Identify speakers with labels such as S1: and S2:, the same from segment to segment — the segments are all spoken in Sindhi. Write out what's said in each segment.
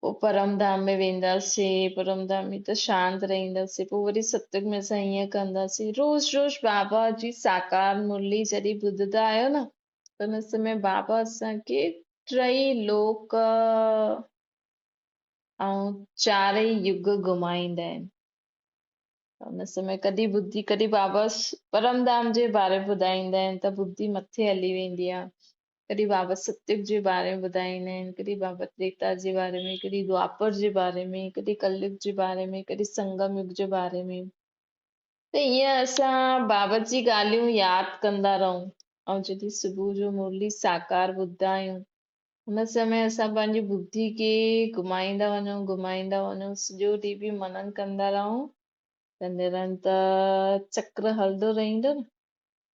S1: پوء پرم ڌام ۾ وينداسين، پرم ڌام ۾ ته شانت رهنداسين، پوء وري ستسنگ ۾ اسان هيئن ڪنداسين. روز روز بابا جي ساڪار مرلي جڏهن ٻڌندا آهيو نه ته ان سمي بابا اسان کي ٽئي لوڪ ۽ چارئي يگ گهمائيندا آهن. ان سمي ڪڏهن ٻڌي ڪڏهن بابا پرم ڌام جي باري ٻڌائيندا آهن ته ٻڌي مٿي هلي ويندي آهي. ڪڏھن بابت ستيوھ جي باري ۾ ٻڌائيندا آھن، ڪڏھن بابت تريتا جي باري ۾، ڪڏھن دوآپر جي باري ۾، ڪڏھن ڪل يگ جي باري ۾، ڪڏھن سنگم يگ جي باري ۾، ته ايئن اسان بابت جي ڳالھيون ياد ڪندا رھون، ۽ جڏھن صبح جو مرلي ساڪار ٻڌدا آھيون، ان سمي اسان پنھنجي ٻڌي کي گھمائيندا وڃون، گھمائيندا وڃون، سڄو ڏينھن به منن ڪندا رھون ته نرنتر چڪر ھلندو رھندو نه؟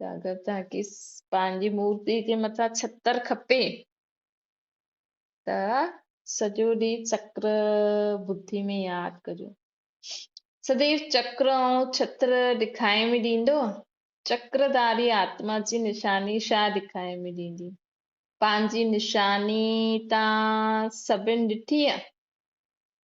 S1: اگر توکي پنهنجي مورتي جي مٿان ڇتر کپي ته سڄو ڏينهن چڪر بڌي ۾ ياد ڪجو سديو چڪر ۽ ڇتر ڏکائي ۾ ڏيندو چڪرداري آتما جي نشاني شا ڏکائي ۾ ڏيندي پنهنجي نشاني تان سڀن ڏٺي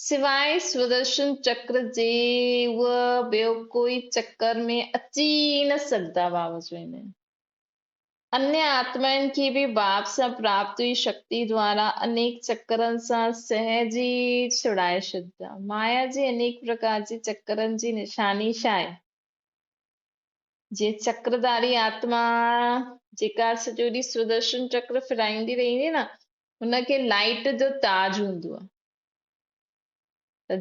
S1: سواء سودرشن چڪر جي اهي ٻيو ڪوئي چڪر ۾ اچي ئي نه سگهندا. واپس ويندي انيا آتمائن کي به باب سان پراپت هئي شڪتي دوارا انيڪ چڪرن سان سهج ئي ڇڙائي ڇڏيندا. مايا جي انيڪ پرڪار جي چڪرن جي نشاني ڇا آهي؟ جيئن چڪرداري آتما جيڪا سڄو ڏينهن سودرشن چڪر ڦيرائيندي رهندي آهي نه ان کي لائيٽ جو تاج هوندو آهي.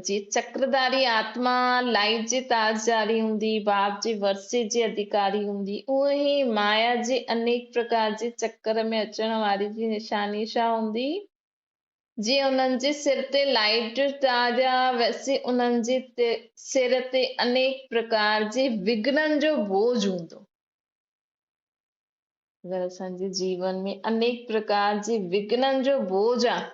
S1: جي چڪرداري آتما، لائي جي تاجداري هوندي، باب جي ورثي جي اڌيڪاري هوندي، اونهن ئي مايا جي انيڪ پرڪار جي چڪر ۾ اچڻ واري جي نشاني شا هوندي، جي انهن جي سر تي لائي جي تاج آ، ويسي انهن جي سر تي انيڪ پرڪار جي وگهنن جو بوجهه هوندو. اگر اسان جي جيون ۾ انيڪ پرڪار جي وگهنن جو بوجهه آ،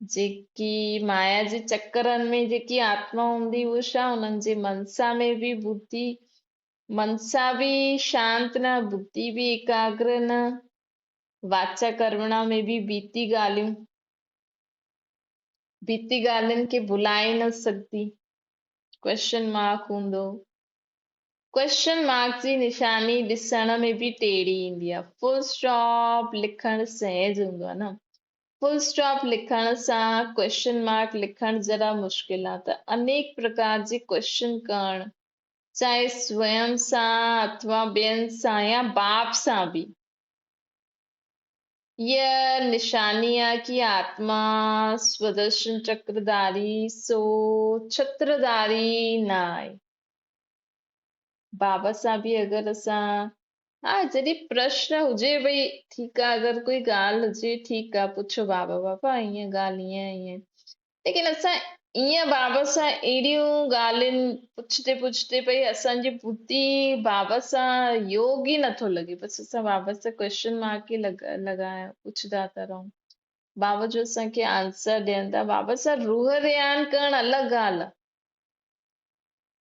S1: جيڪي مايا جي چڪرن ۾ جيڪي آتما هوندي هئي شا انهن جي منسا ۾ به بڌي منسا به شانت نه بڌي به ايڪاگر نه واچا ڪرمڻا ۾ به بيتي ڳالهيون بيتي ڳالهين کي ڀلائي نه سگهدي ڪويشن مارڪ هوندو ڪويشن مارڪ جي نشاني ڏسڻ ۾ به ٽيڙي ايندي آهي فل اسٽاپ لکڻ سهج هوندو آهي نه فل اسٽاپ لکڻ سان ڪوئسچن مارڪ لکڻ ذرا مشڪل آ ته انيڪ پرڪار جي ڪوئسچن ڪرڻ چاهي سوئم سان اٿوا ٻين سان يا باپ سان به هيء نشاني آ ڪي آتما سودرشن چڪر ڌاري سو ڇتر ڌاري نه آهي بابت سان به اگر اسان ها جڏهن پرشن هجي ڀئي ٺيڪ آ اگر ڪوئي ڳالهه هجي ٺيڪ آ پڇو بابا بابا هيئن ڳالهه هيئن هيئن ليڪن اسان ائين بابت سان اهڙيون ڳالهين پڇتي پڇتي پئي اسانجي بوتي بابت سان يوگ ئي نٿو لڳي بس اسان بابت سان ڪويشچن مارڪ ئي لڳايا پڇندا ٿا رهون بابا جو اسانکي آنسر ڏين ٿا بابت سان روح ريان ڪرڻ الڳ ڳالهه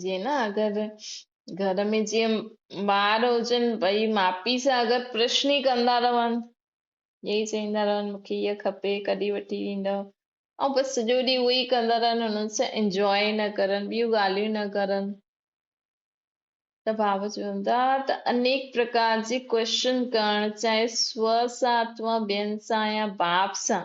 S1: جيئن نه اگر گهر ۾ جيئن ٻار هجن ٻئي ماء پيء سان اگر پرشن ئي ڪندا رهن ائين ئي چئيندا رهن مونکي هيء کپي ڪڏهن وٺي ڏيندؤ ۽ بس سڄو ڏينهن اهو ئي ڪندا رهن انهن سان انجواء نه ڪرن ٻيون ڳالهيون نه ڪرن ته ڀاء چوندا ته انيڪ پرڪار جي ڪوششن ڪرڻ چاهي سو سان اٿوا ٻين سان يا باپ سان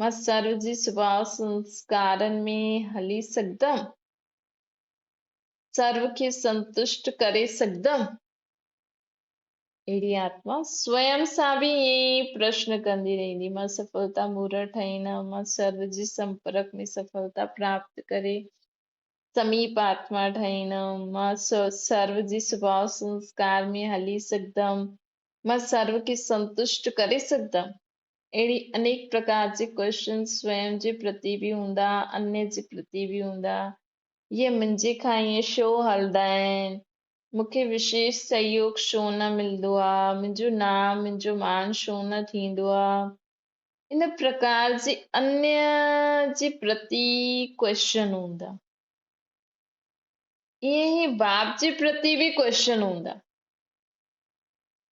S1: مان سرو جي سڀاء سنسڪارن ۾ هلي سگهندم، سرو کي سنتشٽ ڪري سگهندم. اهڙي آتما سوئم سان به ائين ئي پرشن ڪندي رهندي، مان سڦلتا مورا ٺاهيندم، مان سرو جي سمپرڪ ۾ سڦلتا پراپت ڪري سميپ آتما ٺاهيندم، مان سرو جي سڀاء سنسڪار ۾ هلي سگهندم، مان سرو کي سنتشٽ ڪري سگهندم. اهڙي انيڪ پرڪار جي ڪوششن سويم جي پرتي به هوندا، انيء جي پرتي به هوندا. اهي منهنجي کان ائين شو هلندا آهن؟ مون کي وشيش سهيوگ شو نه ملندو آ؟ منهنجو نانء، منهنجو مان شو نه ٿيندو آ؟ ان پرڪار جي انيء جي پرتي ڪوششن هوندا. ائين ئي باپ جي پرتي به ڪوششن هوندا.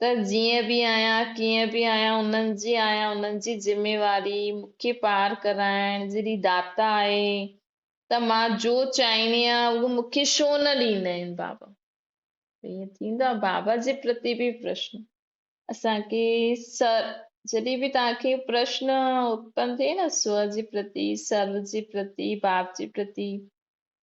S1: ته جيئن به آهيان، ڪيئن به آهيان، انهن جي آهيان، انهن جي ذميواري مون کي پار ڪرائڻ جهڙي داتا آهي ته مان جو چاهيندي آهيان اهو مون کي ڇو نه ڏيندا آهن بابا؟ ته ائين ٿيندو آهي بابا جي پرتي به پرشن اسان کي سر جڏهن به توهان کي پرشن اتپن ٿئي نه سوء جي پرتي، سرو جي پرتي، باپ جي پرتي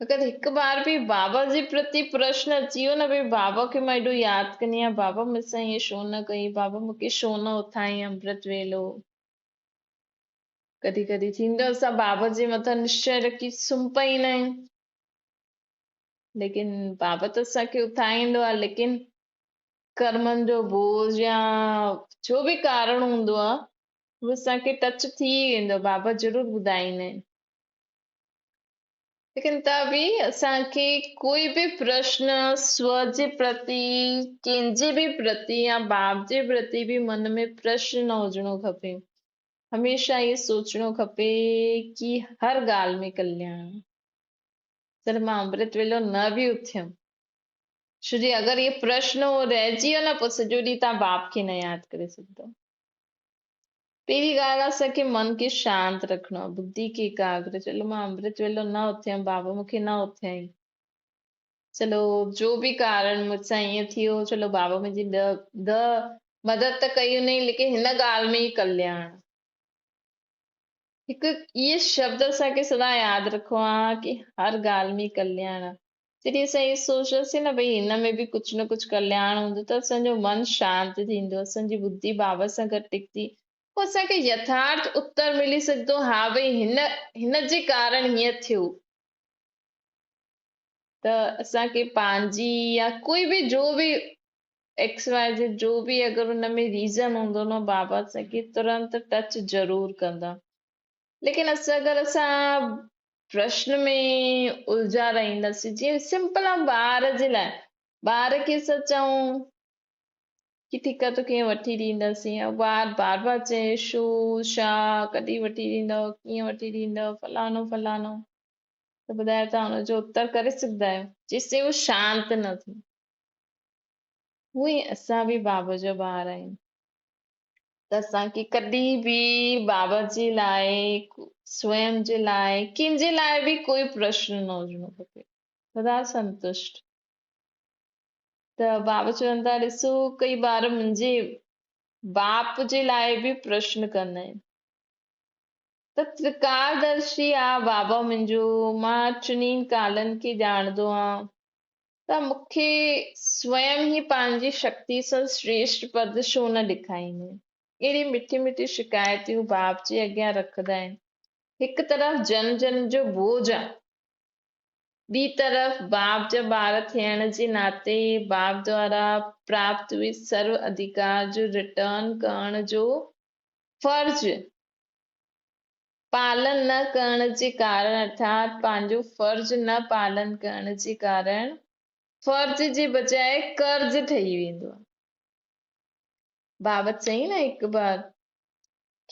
S1: مگر هڪ بار به بابا جي پرتي پرشن اچي ويو نه ڀي بابا کي مان ايڏو ياد ڪندي آهيان بابا مون سان ائين شو نه ڪئي بابا مون کي شو نه اٿايئي امرت ويلو ڪڏهن ڪڏهن ٿيندو اسان بابا جي مٿان نشچي رکي سمهه پئيندا آهيون ليڪن بابا ته اسان کي اٿائيندو آهي ليڪن ڪرمن جو بوج يا جو به ڪارڻ هوندو آهي اهو اسان کي ٽچ ٿي ويندو بابا ضرور ٻڌائيندا آهن ليڪن ته به اسان کي ڪوئي به پرشن سور جي پرتي ڪنهن جي به پرتي يا باپ جي پرتي به من ۾ پرشن نه هجڻو کپي هميشه اهي سوچڻو کپي ڪي هر ڳالهه ۾ ڪلياڻ جڏهن مان امرت ويلو نه به اٿيم شو جي اگر اهي پرشن رهجي ويو نه پوء سڄو ڏينهن تان باپ کي نه ياد ڪري سگهندو پهرين ڳالهه اسان کي من کي شانت رکڻو آهي، بدي کي ايڪاگر. چلو مان امرت ويلو نه اٿيم بابا مون کي نه اٿيائين. چلو جو به ڪارڻ مون سان ائين ٿي ويو، چلو بابا منهنجي ڏ ڏ مدد ته ڪئي هونئين ليڪن هن ڳالهه ۾ ئي ڪلياڻ. هڪ اهي شبد اسان کي سدا ياد رکڻا آهي ڪي هر ڳالهه ۾ ڪلياڻ آهي. جڏهن اسان اهو سوچياسين نه ڀئي هن ۾ به ڪجهه نه ڪجهه ڪلياڻ هوندو ته اسان جو من شانت ٿيندو، اسان جي ٻڌي بابا سان گڏ ٽڪندي، پوء اسان کي يٿارٿ اتر ملي سگهندو، ها ڀئي هن هن جي ڪارڻ هيئن ٿيو. ته اسان کي پنهنجي يا ڪوئي به جو به ايڪس واء زيڊ جو به اگر ان ۾ ريزن هوندو نه بابا اسان کي ترنت ٽچ ضرور ڪندا. ليڪن اسان اگر اسان پرشن ۾ الجھا رهنداسين جيئن سمپل آن ٻار جي لاء ٻار کي اسان چئون ڪي ٺيڪ آ توکي وٺي ڏينداسين يا ٻار بار بار چئي شو شا ڪڏي وٺي ڏيندو ڪيئن وٺي ڏيندو فلانو فلانو ته ٻڌايو تان ان جو اتر ڪري سگھدا آهيو جيسين هو شانت نه ٿي هو اسان به باب جو ٻار آهيون ته اسان کي ڪڏهن به بابا جي لاء سوئم جي لاء ڪنهن جي لاء به ڪوئي پرشن نه هجڻو کپي سدا سنتشٽ ته بابا چون ٿا ڏسو ڪئي ٻار منهنجي باپ جي لاء به پرشن ڪندا آهن ته ترڪار درشي آ بابا منهنجو مان چنين ڪالن کي ڄاڻندو آهيان ته مون کي سوئم ئي پنهنجي شڪتيء سان سريشٽ پد ڇو نه ڏيکاريندين؟ اهڙيون مٺيون مٺيون شڪايتون باب جي اڳيان رکندا آهن. هڪ طرف جن جن جو بوجھ آ. ٻي طرف باب جا ٻار ٿيڻ جي ناتي باب دوارا پراپت اهي سرو اڌيڪار جو رٽرن ڪرڻ جو فرض پالن نه ڪرڻ جي ڪارڻ ارٿات پنهنجو فرض نه پالن ڪرڻ جي ڪارڻ فرض جي بجاء قرض ٺهي ويندو آهي. بابت چئي نه هڪ بار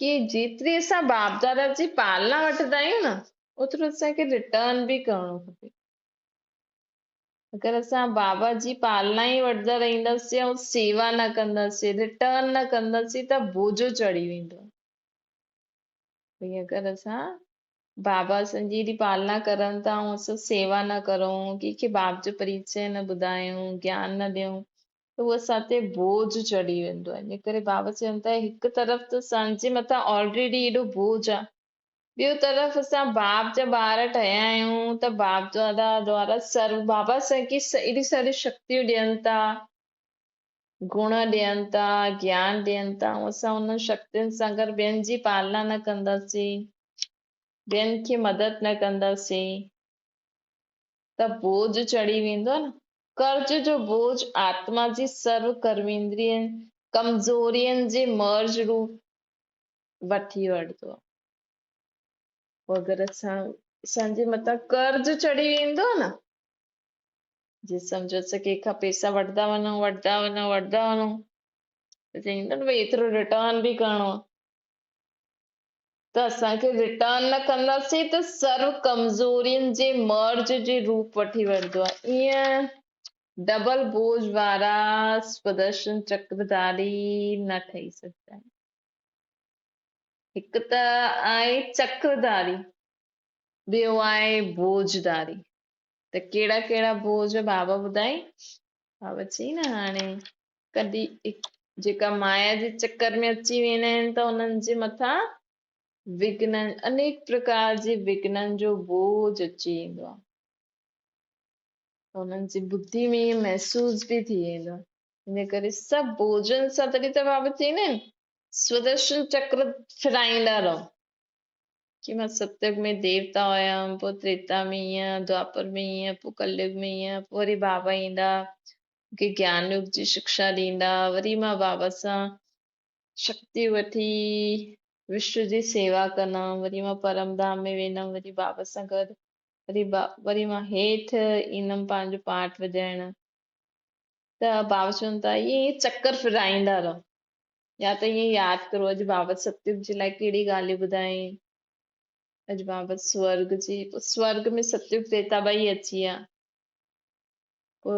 S1: ڪي جيتري اسان باپ دادا جي پالنا وٺندا آهيون نه اوترو اسان کي رٽرن به ڪرڻو کپي اگر اسان بابا جي پالنا ئي وٺندا رهنداسين ۽ سيوا نه ڪنداسين رٽرن نه ڪنداسين ته بوجو چڙهي ويندو انهيء ڪري اسان بابا اسان جي ايڏي پالنا ڪرن ٿا ۽ اسان سيوا نه ڪرون، ڪنهن کي باب جو پريچئه نه ٻڌايون، گيان نه ڏيون ته هو اسان تي بوجهه چڙهي ويندو آهي. انهيء ڪري بابا چون ٿا هڪ طرف ته اسان جي مٿان آلريڊي ايڏو بوجهه آهي، ٻيو طرف اسان باب جا ٻار ٺهيا آهيون ته باب دادا دوارا سرو بابا اسان کي ايڏيون ساريون شڪتيون ڏين ٿا، گڻ ڏين ٿا، گيان ڏين ٿا، اسان انهن شڪتين سان گڏ ٻين جي پالنا نه ڪنداسين، ٻين کي مدد نه ڪنداسين ته بوجهه چڙهي ويندو نه. قرض جو بوجهه آتما جي سرو ڪرويندرين ڪمزورين جي مرض روپ وٺي وٺدو آهي. پوء اگر اسان اسان جي مٿان قرض چڙهي ويندو نه جي سمجهيس ڪنهن کان پئسا وٺندا وڃو وٺندا وڃو وٺندا وڃو ته چئين ٿا نه ڀائی ايترو رٽرن به ڪرڻو آ ته اسان کي رٽرن نه ڪنداسين ته سر ڪمزورين جي مرض جي روپ وٺي ويندو آهي ائين ڊبل بوج وارا سدرشن چڪرداري نه ٺهي سگهندا آهن هڪ ته آهي چڪرداري ٻيو آهي بوجداري ته ڪهڙا ڪهڙا بوج بابا ٻڌائين؟ بابا چيائين نه هاڻي ڪڏي جيڪا مايا جي چڪر ۾ اچي ويندا آهن ته انهن جي مٿان وگنن انيڪ پرڪار جي وگنن جو بوج اچي ويندو آهي انهن جي ٻڌي ۾ محسوس به ٿي ويندو آهي ان ڪري سڀ بوجن سان تڏهن ته بابا چيائين سودرشن چڪر ڦرائيندا رهو جي مان ستيوگ ۾ ديوتا هيم پوء تريتا ۾ هيم دوئاپر ۾ هيم پوء ڪليوگ ۾ هيم پوء وري بابا ايندا مون کي گيان يوگ جي شڪشا ڏيندا وري مان بابا سان شڪتي وٺي وشنو جي سيوا ڪندم وري مان پرم ڌام ۾ ويندم وري بابا سان گڏ وري با وري مان هيٺ ايندم پنهنجو پاٽ وڄائڻ ته بابا چون ٿا ائين چڪر ڦيرائيندا رهو يا ته ائين ياد ڪرو اڄ بابت ستيوڪ جي لاء ڪهڙي ڳالهه ٻڌايائين. اڄ بابت سورگ جي پوء سورگ ۾ ستيوڪ ديتا ٻئي اچي ويا. پوء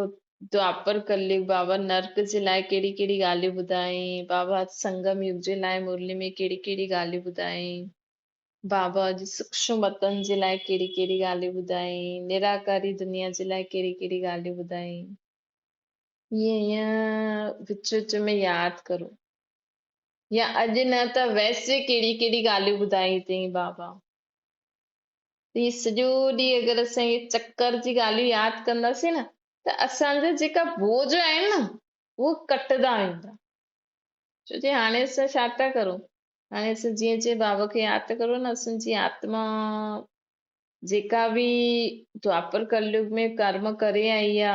S1: دوآپر ڪليوڪ بابت نرڪ جي لاء ڪهڙي ڪهڙي ڳالهيون ٻڌايائين. بابت سنگم يگ جي لاء مرلي ۾ ڪهڙي ڪهڙي ڳالهيون ٻڌايائين. بابت اڄ سوڪشم وتن جي لاء ڪهڙي ڪهڙي ڳالهيون ٻڌايائين. نراڪاري دنيا جي لاء ڪهڙي ڪهڙي ڳالهيون ٻڌايائين. ائين يا وچ وچ ۾ ياد ڪرو يا اڄ نه ته ويسي ڪهڙي ڪهڙي ڳالهيون ٻڌائي اٿئي بابا هي سڄو ڏينهن اگر اسان هي چڪر جي ڳالهيون ياد ڪنداسين نه ته اسان جا جيڪا بوجھ آهن نه اهو ڪٽدا ويندا ڇو جي هاڻي اسان ڇا ٿا ڪرون هاڻي اسان جيئن جيئن بابا کي ياد ڪرون نه اسان جي آتما جيڪا به دواپر ڪليوگ ۾ ڪرم ڪري آئي آ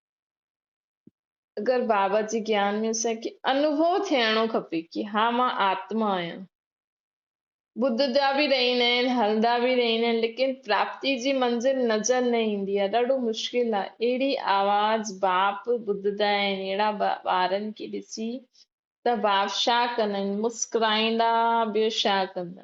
S1: اگر بابا جي گيان ۾ اسان کي انوڀو ٿيڻو کپي ڪي ها مان آتما آهيان ٻڌدا به رهيندا آهن هلدا به رهيندا آهن ليڪن پراپتي جي منزل نظر نه ايندي آهي ڏاڍو مشڪل آهي اهڙي آواز باپ ٻڌدا آهن اهڙا ٻارن کي ڏسي ته باپ ڇا ڪندن مسڪرائيندا ٻيو ڇا ڪندا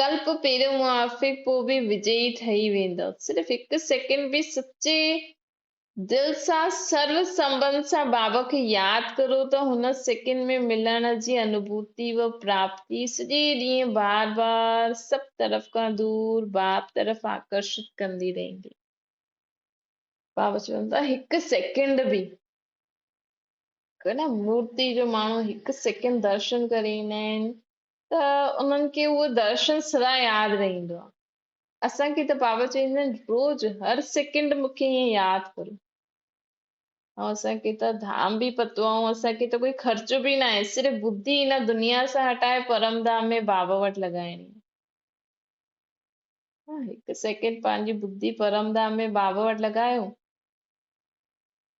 S1: ڪلپ پهريون موافق پوء به وجئي ٺهي ويندو صرف هڪ سيڪنڊ به سچي دل سان سرو سنبند سان بابا کي ياد ڪرو ته هن سيڪنڊ ۾ ملڻ جي انڀوتي و پراپتي سڄي ڏينهن بار بار سڀ طرف کان دور باب طرف آڪرشت ڪندي رهندي بابا چون ٿا هڪ سيڪنڊ به ڪنا مورتي جو ماڻهو هڪ سيڪنڊ درشن ڪري ايندا آهن ته انهن کي اهو درشن سدا ياد رهندو آهي. اسان کي ته بابا چويندا آهن روز هر سيڪنڊ مون کي ائين ياد ڪرو. ۽ اسان کي ته ڌام به پتو آهي ۽ اسان کي ته ڪوئي خرچ به نه آهي صرف ٻڌي هن دنيا سان هٽائي پرم ڌام ۾ بابا وٽ لڳائڻي آهي هڪ سيڪنڊ پنهنجي ٻڌي پرم ڌام ۾ بابا وٽ لڳايو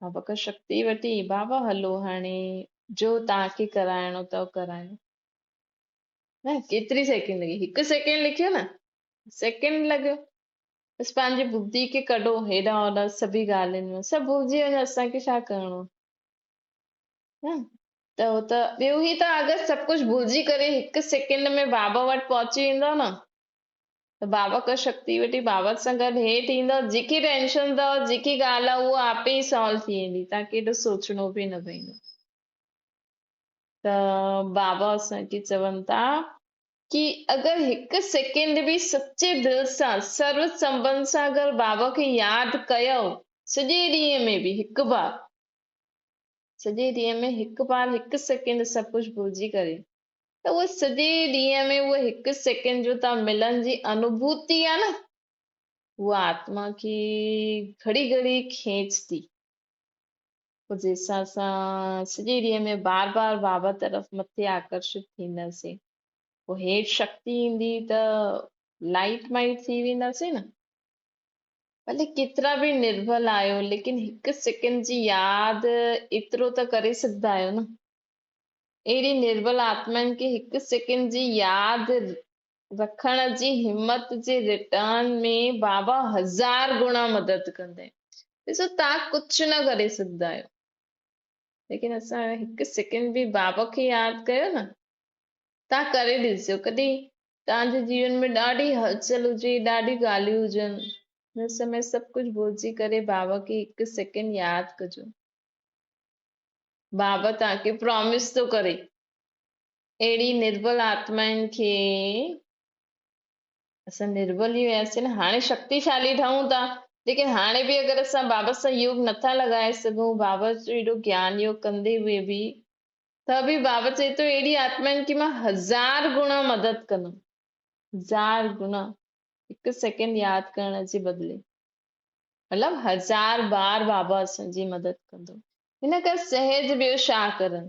S1: بابا کان شڪتي وٺي بابا هلو هاڻي جو تان کي ڪرائڻو اٿو ڪرايو نه ڪيتري سيڪنڊ لڳي هڪ سيڪنڊ لکيو نه سيڪنڊ لڳيو بس پنهنجي بدي کي ڪڍو هيڏا هوڏا سڀي ڳالهين ۾ سڀ بوجي وڃو اسانکي ڇا ڪرڻو نه ته هو ته ٻيو هي ته اگر سڀ ڪجهه بوجي ڪري هڪ سيڪنڊ ۾ بابا وٽ پهچي ويندو نه ته بابا ڪا شڪتي وٽي بابا سان گڏ هيٺ ايندو جيڪي ٽينشن اٿو جيڪي ڳالهه اهو آپي سالو ٿي ويندي تاکي ايڏو سوچڻو به نه پوندو ته بابا اسان کي چون ٿا ڪي اگر هڪ سيڪنڊ به سچي دل سان سر سنبند سان اگر بابا کي ياد ڪيو سڄي ڏينهن ۾ به هڪ بار سڄي ڏينهن ۾ هڪ بار هڪ سيڪنڊ سڀ ڪجهه ڀلجي ڪري ته اهو سڄي ڏينهن ۾ اهو هڪ سيڪنڊ جو تان ملن جي انوڀوتي آ نه اها آتما کي گهڙي گهڙي کينچ ٿي جي حساب سان سڄي ڏينهن ۾ بار بار بابا طرف مٿي آڪرشت ٿينداسين پوء هيٺ شڪتي ايندي ته لائٽ مائٽ ٿي وينداسين نه ڀلي ڪيترا به نربل آهيو ليڪن هڪ سيڪنڊ جي ياد ايترو ته ڪري سگهندا آهيو نه اهڙي نربل آتمائن کي هڪ سيڪنڊ جي ياد رکڻ جي همت جي رٽرن ۾ بابا هزار گڻا مدد ڪندي ڏسو توهان ڪجهه نه ڪري سگهندا آهيو ليڪن اسان هڪ سيڪنڊ به بابا کي ياد ڪيو نه توهان ڪري ڏسجو ڪڏهن توهان جي جيون ۾ ڏاڍي هلچل هجي ڏاڍي ڳالهيون هجن هن سمي سڀ ڪجهه ڀلجي ڪري بابا کي هڪ سيڪنڊ ياد ڪجو بابا توهان کي پرامس ٿو ڪري اهڙي نربل آتمائن کي اسان نربل ئي هياسين نه هاڻي شڪتيشالي ٺهون ٿا ليڪن هاڻي به اگر اسان بابت سان يوگ نٿا لڳائي سگهون بابت جو ايڏو گيان يوگ ڪندي به به ته به بابت چئي ٿو اهڙي آتمائن کي مان هزار گنا مدد ڪندم هزار گنا هڪ سيڪنڊ ياد ڪرڻ جي بدلي مطلب هزار بار بابا اسان جي مدد ڪندو هن ڪا سهج ٻيو شاهه ڪرن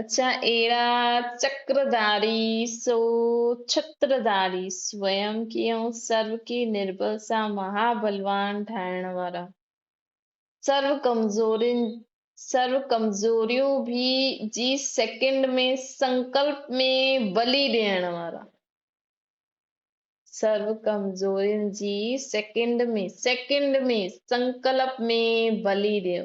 S1: اچا ايڙا چڪر ڌاري سو ڇتر ڌاري سوئم ڪي ۽ سرو ڪي نربل سا مها بلوان ٺاهڻ وارا سرو ڪمزورين سرو ڪمزوريون ڀي جي سيڪنڊ ۾ سنڪلپ ۾ بلي ڏيڻ وارا سرو ڪمزورين جي سيڪنڊ ۾ سيڪنڊ ۾ سنڪلپ ۾ بلي ڏيو